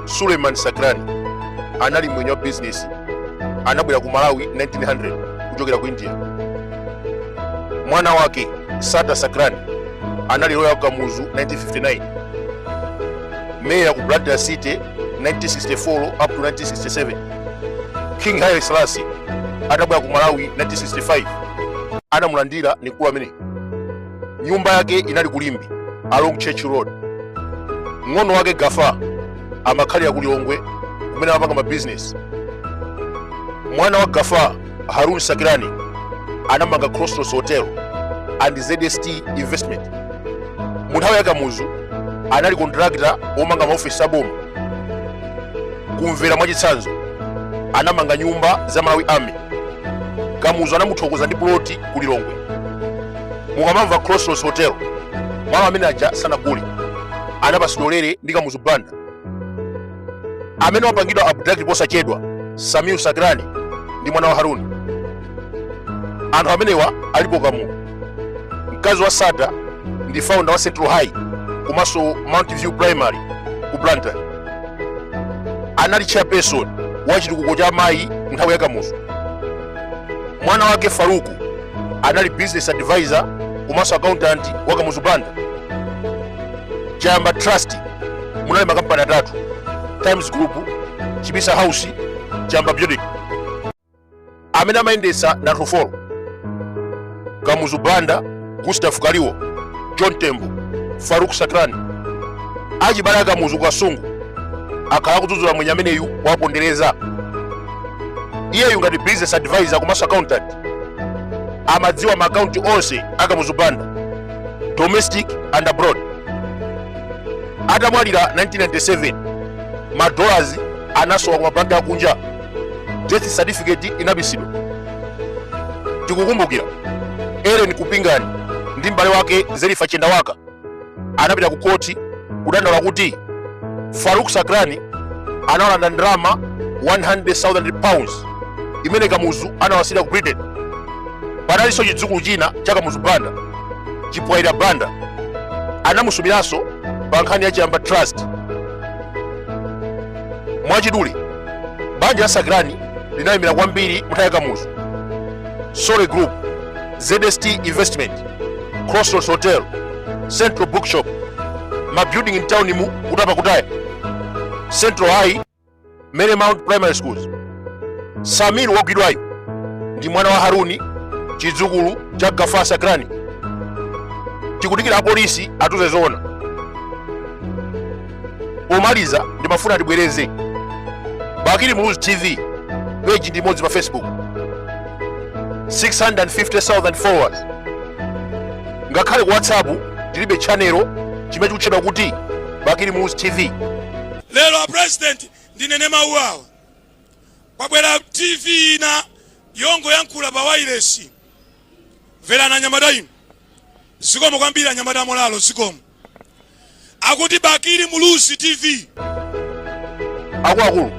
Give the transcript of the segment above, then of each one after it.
suleiman sacranie anali mwenye wa bizinesi anabwera ku malawi 1900 kuchokera ku india mwana wake sattar sacranie anali loya wa kamuzu 1959 meya ku blantyre city 1964 up to 1967 king haile selassie atabwera ku malawi 1965 anamulandira ni mkulu amene nyumba yake inali ku limbe along church road mng'ono wake gaffar amakhalira ku lilongwe kumene amapanga mabizinesi mwana wa gaffar haroon sacranie anamanga crossroads hotel and zst investment mu nthawi ya kamuzu anali kontrakita womanga maofesi aboma ku mvera mwachitsanzo anamanga nyumba za malawi army kamuzu anamuthokoza ndi puloti ku lilongwe mukamamva crossroads hotel malo amene aja sanagule anapatsidwa ulere ndi kamuzu banda amene wapangidwa abduct posachedwa sameer sacranie ndi mwana wa haroon anthu amenewa alipo khamu mkazi wa sattar ndi founder wa central high komanso mount view primary ku blantyre anali chairperson wa chitukuko cha amayi nthawi ya kamuzu mwana wake farook anali business advisor komanso accountant wa kamuzu banda chayamba trust munali makampani atatu times group chibisa house chayamba building amene amayendetsa ndi anthu folo kamuzu banda gustav kaliwo john tembo farook sacranie achibale akamuzu ku kasungu akhala akudzudzula mwenye ameneyu wapondereza iyeyu ngati business advisor komanso accountant amadziwa maakaunti onse akamuzu banda domestic and abroad atamwalira 1997 madolars anasowa ku mabanki akunja death certificate inabisidwa tikukumbukira ellen kupingani ndi m'bale wake zelifa chendawaka anapita ku koti kudandaula kuti Farook Sacranie anawalanda ndalama 100,000 pounds imene Kamuzu anawasiyira ku Britain. Panalinso chidzukulu china cha Kamuzu Banda, Chipwaira Banda, anamusumiranso pa nkhani ya Chayamba Trust. Mwachidule, banja la Sacranie linalemera kwambiri mu nthawi ya Kamuzu. Sole Group, ZST Investment. crossroads hotel central bookshop mabuilding in town mu kutapa kutaya central high mary mount primary schools samir wogwidwayo ndi mwana wa haruni chidzukulu cha Gafa Sakrani tikudikira apolisi atiuze zoona Pomaliza ndimafuna tibwereze Bakili Muluzi TV page ndi imodzi pa Facebook 650,000 followers. Ngakhale ku WhatsApp tilibe channel chimene chikutchedwa kuti Bakili Muluzi TV. lero a president ndinene mawu awa kwabwera tv ina yongoyankhula pa wailesi mverani anyamata inu zikomo kwambiri anyamata amolalo zikomo akuti bakili muluzi tv akuluakulu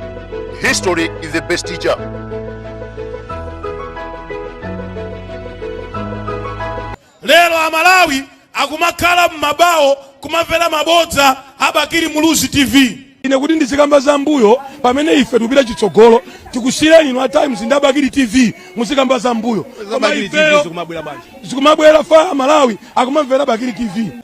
history is the best teacher lero amalawi akumakhala m'mabawo kumamvera mabodza a bakili muluzi tv ine kuti ndizikamba za mbuyo pamene ife tikupita chitsogolo tikusiyireni inu a times ndi abakili tv muzikamba za mbuyo koma ifeyo zikumabwera fa Amalawi akumamvera bakili tv